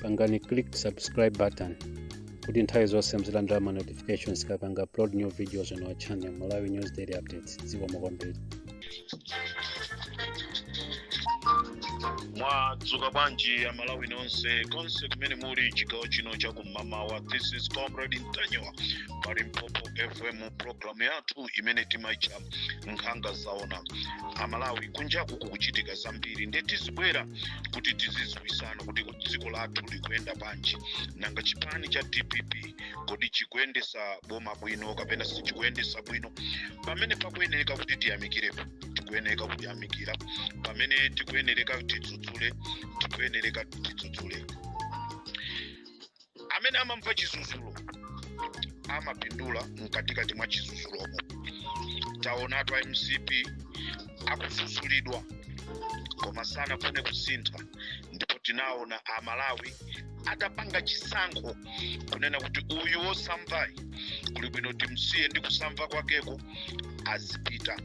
pangani click subscribe button kuti nthawi zonse muzilandira ma notifications tikapanga upload new videos on our channel malawi news daily updates zikomo kwambiri mwadzuka bwanji amalawi nonse konse kumene muli chigawo chino cha kum'mamawa this is comrade ntanyiwa pa limpopo fm programu yathu imene timaicha nkhanga zaona amalawi kunjaku kukuchitika zambiri nde tizibwera kuti tizidziwisana kuti dziko lathu likuyenda bwanji nanga chipani cha dpp kodi chikuyendesa boma bwino kapena sichikuyendesa bwino pamene pakuyenereka kuti tiyamikirepo tikuyenereka kuyamikira pamene tikuyenereka tidzudzule tikuyenereka tidzudzule amene amamva chizuzulo amapindula mkatikati mwa chizuzulomo taonatu a mcp ankazuzulidwa koma sanafune kusintha ndipo tinaona amalawi atapanga chisankho kunena kuti uyu wosamvayu kuli bwino timsiye ndi kusamva kwakeko azipita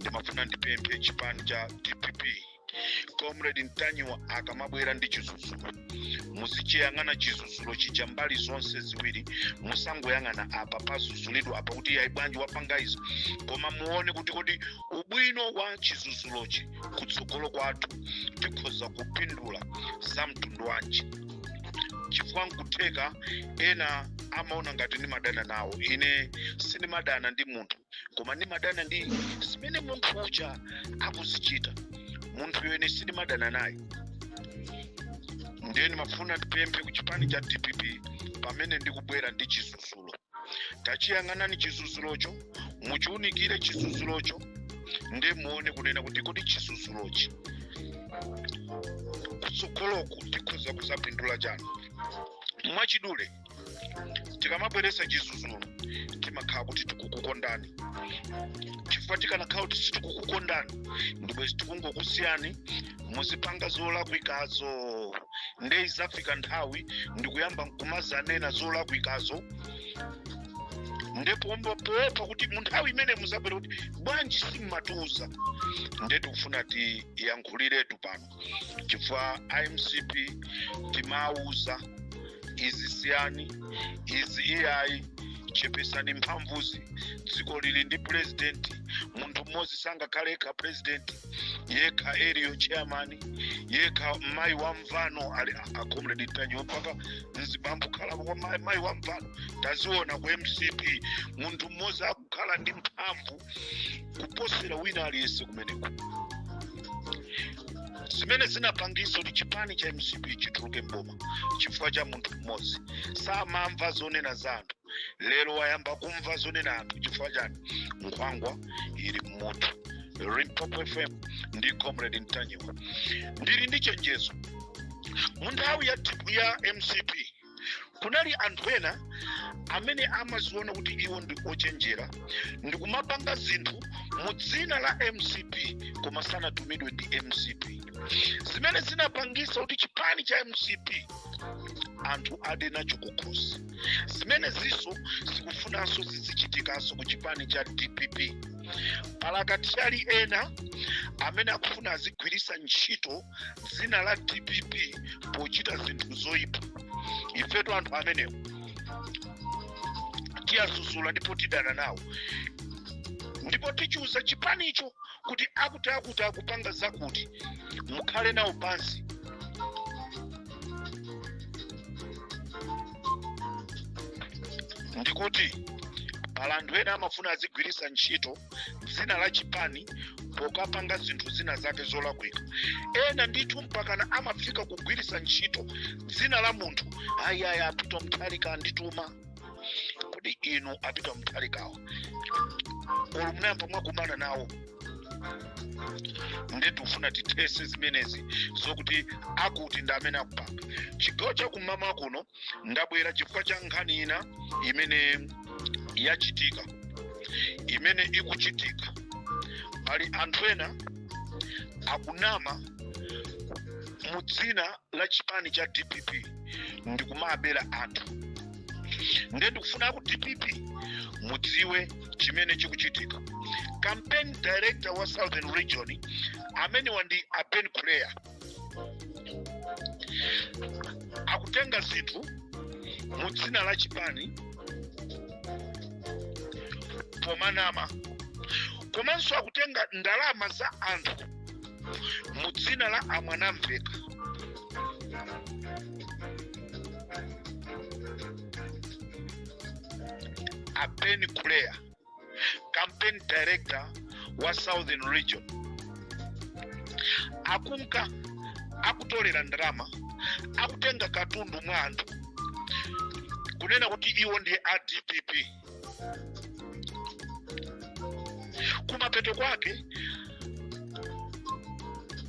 ndimafuna ndipemphe chipani cha dpp comrade ntanyiwa akamabwera ndi chizuzulo muzichiyang'ana chizuzulo chija mbali zonse ziwiri musangoyang'ana apa pazuzulidwa apa kuti ayi bwanji wapanga izo koma muone kuti kodi ubwino wa chizuzulochi kutsogolo kwathu tikhoza kupindula za mtundu wanji chifukwa nkutheka ena amaona ngati ndimadana nawo ine sindimadana ndi munthu koma ndimadana ndi zimene munthu uja akuzichita munthuyo ine sindimadana naye ndiye ndimafuna ndipemphe ku chipani cha dpp pamene ndikubwera ndi chizuzulo tachiyang'anani chizuzulocho muchiunikire chizuzulocho nde muone kunena kuti kodi chizuzulochi kutsogoloku tikhoza kuzapindula chani mwachidule tikamabweretsa chizuzulo timakhala kuti tikukukondani chifukwa tikanakhala kuti sitikukukondani ndibwezi tikungokusiyani muzipanga zolakwikazo nde izafika nthawi ndikuyamba nkumazanena zolakwikazo nde pompa poopa kuti munthawi imene muzabwera kuti bwanji simumatiuza nde tikufuna tiyankhuliretu pano chifukwa a mcp timawauza izi siyani izi iyayi chepesani mphamvuzi dziko lili ndi purezidenti munthu mmodzi sangakhale yekha purezidenti yekha area chairman yekha mayi wa mvano ali a comrade ntanyiwa mpaka mzibambo kukhalapo mayi- mayi wa mvano taziona ku mcp munthu mmodzi akukhala ndi mphamvu kuposera wina aliyense kumeneko zimene zinapangisa kuti chipani cha mcp chituluke mboma chifukwa cha munthu mmodzi samamva zonena za anthu lero wayamba kumva zonena anthu chifukwa chani nkhwangwa ili mmoto limpopo fm ndi comrade mtanyiwa ndili ndi chenjezo mu nthawi ya, ya mcp kunali anthu ena amene amaziona kuti iwo ndi ochenjera ndikumapanga zinthu mu dzina la mcp koma sanatumidwe ndi mcp zimene zinapangisa kuti chipani cha mcp anthu ade nacho kukhosi zimenezinso zikufunanso zizichitikanso ku chipani cha dpp pala makatiyali ena amene akufuna azigwirisa ntchito dzina la dpp pochita zinthu zoyipa ifetu anthu amenewo tiyazuzula ndipo tidana nawo ndipo tichiuza chipanicho kuti akuti akuti akupanga zakuti mukhale nawo pansi ndikuti pala anthu ena amafuna azigwiritsa ntchito dzina la chipani pokapanga zinthu zina zake zolakwika ena ndithu mpakana amafika kugwiritsa ntchito dzina la munthu ayaya a Peter Mutharika andituma kodi inu a Peter Mutharikawo olo munayamba mwakumana nawo nde tikufuna tithese zimenezi zokuti akuti ndi amene akupanga chigawo chakummawa kuno ndabwera chifukwa cha nkhani ina imene yachitika imene ikuchitika pali anthu ena akunama mu dzina la chipani cha dpp ndikumabera anthu nde ndikufuna ku dpp mudziwe chimene chikuchitika campaign director wa southern region amenewa ndi a Ben kuleya akutenga zinthu mu dzina la chipani pomanama komanso akutenga ndalama za anthu mu dzina la a Mwanamvekha a Ben kuleya campaign director wa southern region akunka akutolera ndalama akutenga katundu mwa anthu kunena kuti iwo ndiye a dpp kumapeto kwake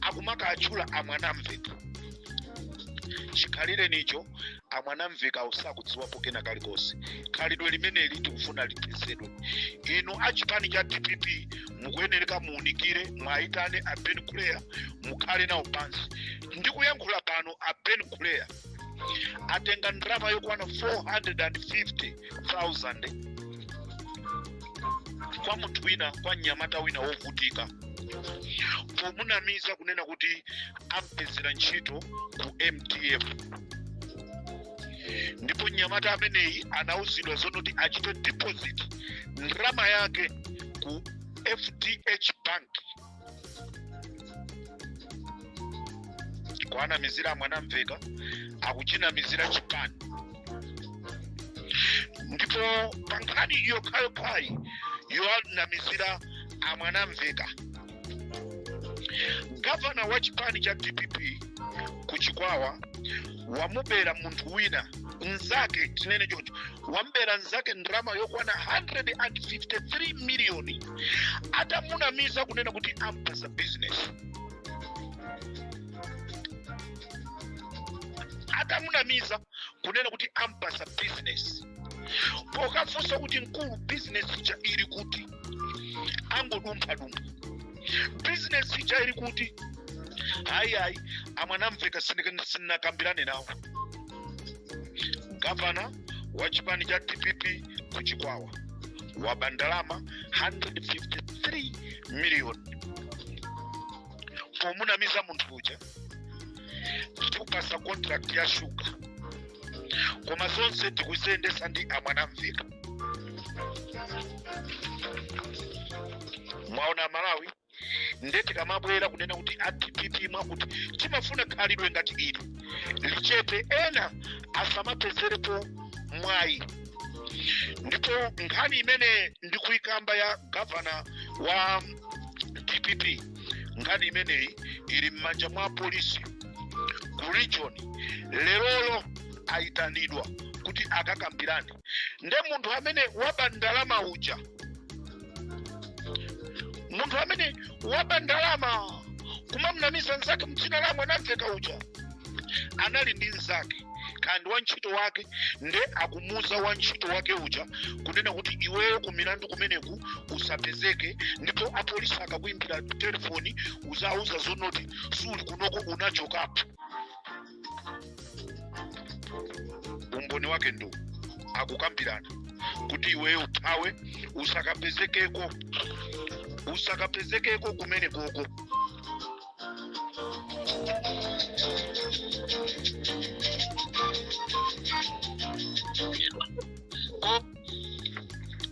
akumakaatchula a Mwanamvekha chikhalirenicho a Mwanamvekha osakudziwapo kena kalikonse khalidwe limeneli tikufuna lipewedwe inu a chipani cha dpp mukuyenereka muunikire mwayitane a ben kuleya mukhale nawo pansi ndikuyankhula pano a ben kuleya atenga ndalama yokwana 450000 kwa munthu wina kwa mnyamata wina wovutika pomunamiza kunena kuti ampezera ntchito ku MDF ndipo mnyamata ameneyi anauzidwa zonoti achite deposit ndalama yake ku fdh bank kuwanamizira a Mwanamvekha akuchinamizira chipani ndipo pankhani yokhayokhayi yowanamizira a Mwanamvekha gavana wa chipani cha dpp ku chikwawa wamubera munthu wina mnzake tinene choncho wamubera mnzake ndalama yokwana 153 miliyoni atamunamiza kunena kuti ampasa bizinesi atamunamiza kunena kuti ampasa bizinesi pokafunsa kuti mkulu bizinesi ija ili kuti angodumphadumpha bizinesi ija ili kuti ayi ayi a Mwanamvekha sindinakambirane nawo gavana wa chipani cha dpp ku chikwawa waba ndalama 153 million pomunamiza munthu uja tikupasa contract ya shuga koma zonse tikuziyendesa ndi a Mwanamvekha mwaona amalawi nde tikamabwera kunena kuti a dpp mwakuti timafuna khalidwe ngati ili lichepe ena asamapezerepo mwayi ndipo nkhani imene ndikuyikamba ya gavana wa dpp nkhani imeneyi ili m'manja mwa polisi ku region lerolo ayitanidwa kuti akakambirane nde munthu amene waba ndalama uja munthu amene waba ndalama kumamnamiza mzake mdzina la a Mwanamvekha uja anali ndi mzake kandi wantchito wake nde akumuuza wantchito wake uja kunena kuti iweyo ku milandu kumeneku usapezeke ndipo apolisi akakuimbira telefoni uzawauza zonoti suli kunoko unachokapo umboni wake ndo akukambirana kuti iweyo uthawe usakapezekeko usakapezekeko kumene koko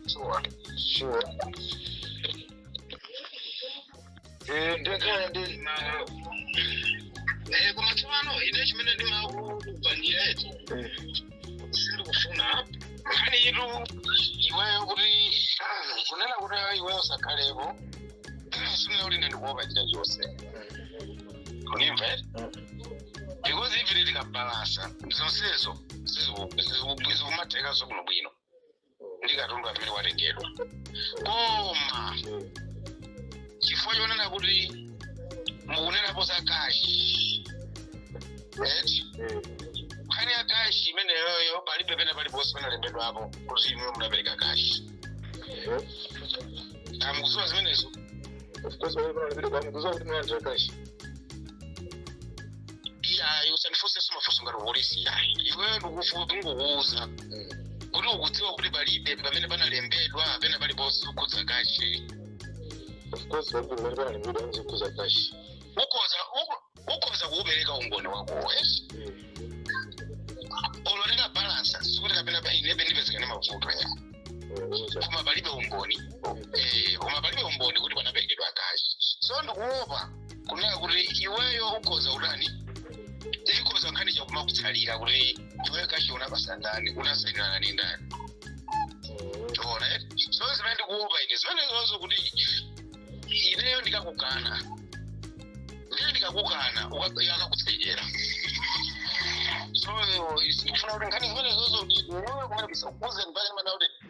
Sure. Sure. Eh, ndekhala ndi Eh, koma tsopano ine chimene ndimakupangira eti eh, sindikufuna nkhani yitu iweyo kuti ah, kunena kuti ah, iweyo usakhalepo sikunena kuti ine ndikuopa china chonse kunimva eti because if tikabalasa zonsezo sizikumathekaso bwinobwino ndi katundu amene watengedwa koma chifukwa chonena kuti mukunenapo za kashi eti nkhani ya kashi imeneyoyo palibe pena paliponse panalembedwapo kuti inuyo munapereka kashi mukuziwa zimenezo of course mukuziwa kuti munalandira kashi iyayi usandifunsenso mafunso ngati polisi iyayi iweyo ndikufuna ndingokuuza kuti ukudziwa kuti palibe pamene panalembedwa pena paliponse kukhudza kashi of course palibe pamene panalembedwa ndi zokhudza kashi ukhoza uko- ukhoza kuupereka umboni wako wes ololera balansa sikuti kapena kwa inebe ndipezekane mavuto ya koma palibe umboni Eh, koma palibe umboni kuti panaperekedwa kashi so ndikuopa kunena kuti iweyo ukhoza utani chikhoza nkhani chakumakutsalira kuti iweyo kashi unapasa ndani unasainirana ndi ndani tiona so zimene ndikuopa ine zimene zonso kuti ineyo ndikakukana ndiye ndikakukana akakutsekera so ndikufuna kuti nkhani zimene zonso kuti iweyo kumene zisakukuze ndi pake ndimanena kuti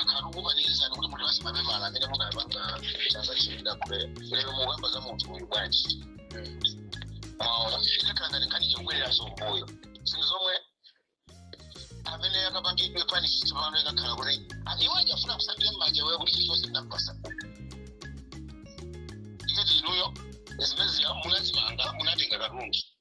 akhala kukupanikizani kuti mutipase mapepala amene munapanga chasachilira kule lero mukamba za munthu uyu bwanji maona ikakhala ngati nkhani chikubwereranso mbuyo zinthu zomwe amene akapangidwe panisi tsopano ikakhala kuti iwo achafuna kusambira mmanja wewe kuti chilichonse ndinapasa iye kuti inuyo zimene munazimanga munatenga katundu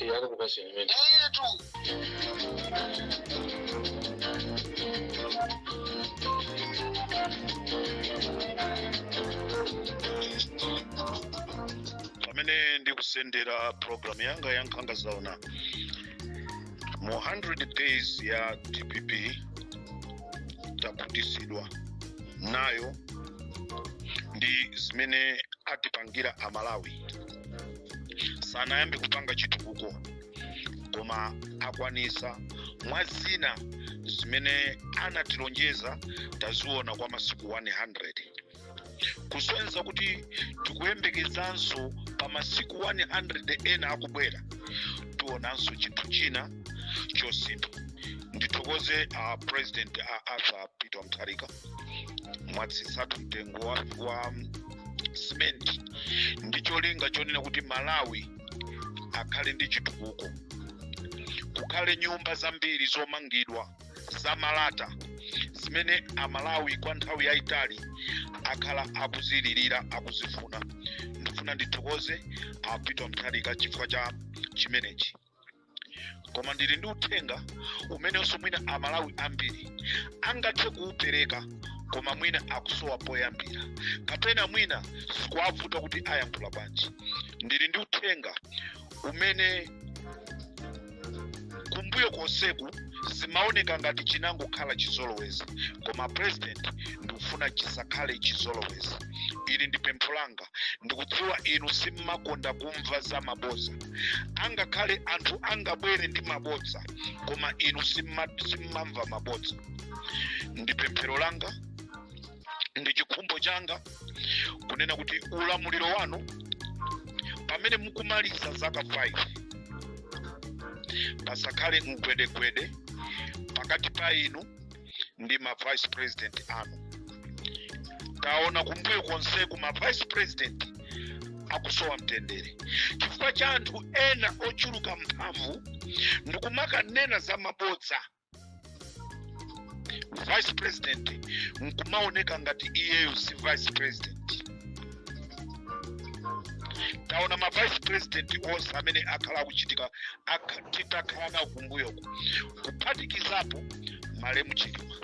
Eh, akakupasira imene. etu pamene ndikusendera program yanga ya nkhanga zaona mu 100 days ya dpp takhutisidwa nayo ndi zimene atipangira amalawi sanayambe kupanga chitukuko koma akwanisa mwa zina zimene anatilonjeza taziona kwa masiku 100 kusonyeza kuti tikuyembekezanso pa masiku 100 ena akubwera tionanso chinthu china chosintha ndithokoze uh, president uh, arthur peter mutharika mwatsitsa mtengo wa, wa simenti ndi cholinga chonena kuti malawi akhale ndi chitukuko kukhale nyumba zambiri zomangidwa za malata zimene amalawi kwa nthawi yayitali akhala akuzilirira akuzifuna ndifuna ndithokoze a peter mutharika chifukwa cha chimenechi koma ndili ndi uthenga umenenso mwina amalawi ambiri angathe kuupereka koma mwina akusowa poyambira kapena mwina zikuwavuta kuti ayankhula bwanji ndili ndi uthenga umene kumbuyo konseku zimaoneka ngati chinangokhala chizolowezi koma president ndikufuna chisakhale chizolowezi ili ndi pempho langa ndikudziwa inu simmakonda kumva za maboza angakhale anthu angabwere ndi mabodza koma inu simma- simmamva mabodza ndi pemphero langa ndi chikhumbo changa kunena kuti ulamuliro wanu pamene mukumaliza zaka 5 pasakhale mgwedegwede pakati pa inu ndi ma vice president anu taona kumbuyo konseku ma vice president akusowa mtendere chifukwa cha anthu ena ochuluka mphamvu ndikumakanena za mabodza vice president nkumaoneka ngati iyeyo si vice president taona ma vice president onse amene akhala akuchitika aka- titakhala nawo kumbuyoku kuphatikizapo malemu chilima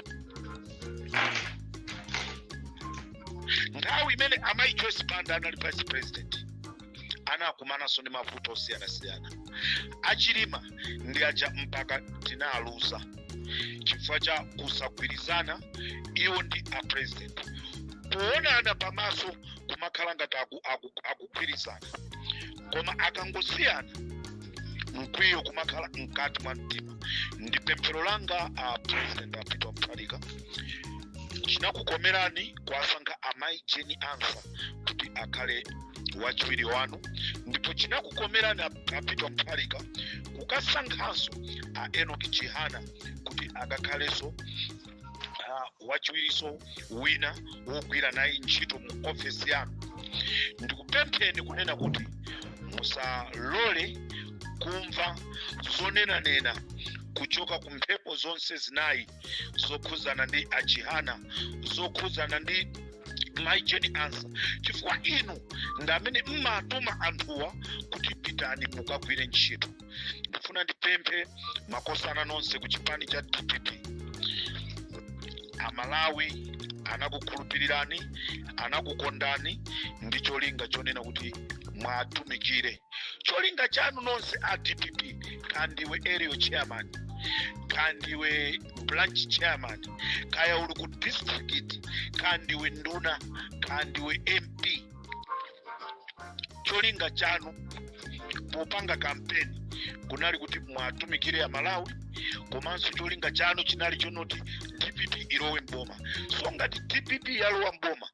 nthawi imene amayi joyce banda anali vice president anakumananso ndi mavuto osiyanasiyana achilima ndi aja mpaka tinawaluza chifukwa cha kusagwirizana iwo ndi a president kuonana pamaso kumakhala ngati aku- aku- akugwirizana koma akangosiyana mkwiyo kumakhala mkati mwa mtima ndi pemphero langa a president a peter mutharika chinakukomerani kuwasankha amayi jane ansah kuti akhale wachiwiri wanu ndipo chinakukomerani a- a peter mutharika kukasankhanso a enoch chihana kuti akakhalenso Ah, wachiwiriso wina wogwira naye ntchito mu ofesi yanu ndikupempheni kunena kuti musalole kumva zonenanena kuchoka ku mphepo zonse zinayi zokhudzana ndi achihana zokhudzana ndi mai Jane Ansah chifukwa inu ndi amene mmatuma anthuwa kuti pitani mukagwire ntchito ndifuna ndipemphe makosana nonse ku chipani cha dpp amalawi anakukhulupirirani anakukondani ndi cholinga chonena kuti mwatumikire cholinga chanu nonse a dpp kandiwe area chairman kandiwe branch chairman kaya uli ku district kandiwe nduna kandiwe mp cholinga chanu popanga kampeni kunali kuti mwatumikire amalawi komanso cholinga chanu chinali chonoti dpp ilowe mboma so ngati dpp yalowa mboma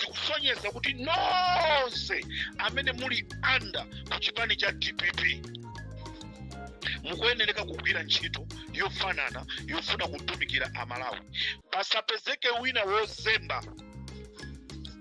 zikusonyeza kuti nonse amene muli under ku chipani cha dpp mukuyenereka kugwira ntchito yofanana yofuna kutumikira amalawi pasapezeke wina wozemba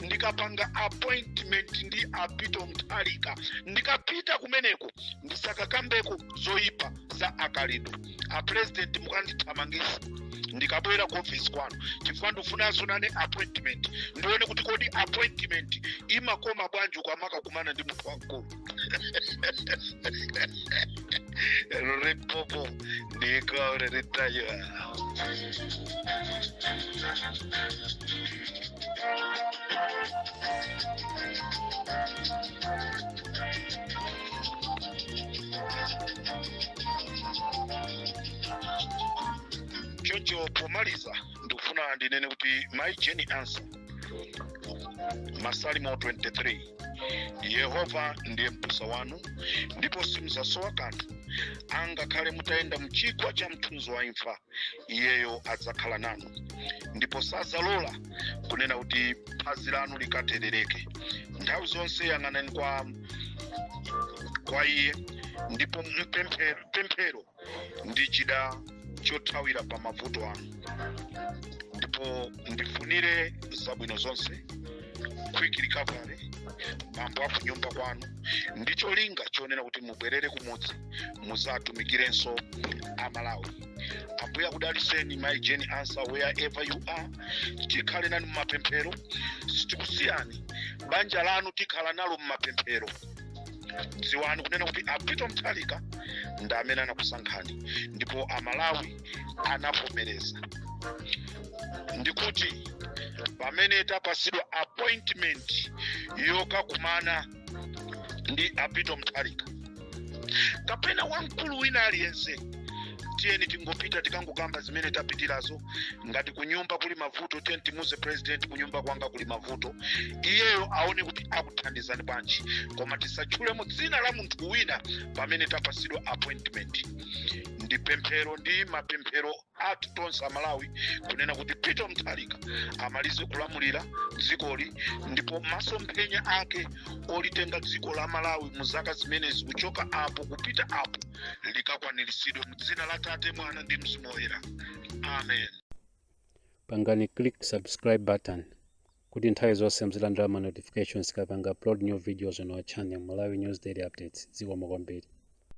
ndikapanga appointment ndi a Peter Mutharika ndikapita kumeneko ndisakakambeko zoyipa za akalido apurezidenti mukandithamangisa ndikabwera ku ofisi kwanu chifukwa ndifunanso nane appointment ndione kuti kodi appointment imakoma bwanji ukamakakumana ndi munthu wamkulu Era un rip popo de cobre de tallo. Chocho pomaliza ndikufuna ndinene kuti my journey answer masalimo 23 yehova ndiye m'busa wanu ndipo simudzasowa kanthu angakhale mutayenda mchigwa cha mthunzi wa imfa iyeyo adzakhala nanu ndipo sadzalola kunena kuti phazi lanu likaterereke nthawi zonse yang'anani kwa iye ndipo pemphero ndi chida chothawira pa mavuto anu ndipo ndifunire zabwino zonse quick recovery bambo aku nyumba kwanu ndi cholinga chonena kuti mubwerere kumudzi muzatumikirenso amalawi ambuye akudaliseni mai Jane Ansah wherever you are tikhale nanu mumapemphero sitikusiyani banja lanu tikhala nalo mumapemphero dziwani kunena kuti a peter mutharika ndi amene anakusankhani ndipo amalawi anavomereza ndikuti pamene tapasidwa appointment yokakumana ndi a peter mutharika kapena wamkulu wina aliyense tiyeni tingopita tikangokamba zimene tapitirazo ngati kunyumba kuli mavuto tiyeni timuze president kunyumba kwanga kuli mavuto iyeyo aone kuti akuthandizani bwanji koma tisatchule mu dzina la munthu wina pamene tapasidwa appointment ndi pemphero ndi mapemphero athu tonse amalawi kunena kuti a peter mutharika amalize kulamulira dzikoli ndipo masomphenya ake olitenga dziko la malawi mu zaka zimenezi kuchoka apo kupita apo likakwaniritsidwe mdzina la tate mwana ndi mzimu woyera amen pangani click subscribe button kuti nthawi zonse mzilandira ma notifications tikapanga upload new videos on our channel malawi news daily updates zikomo kwambiri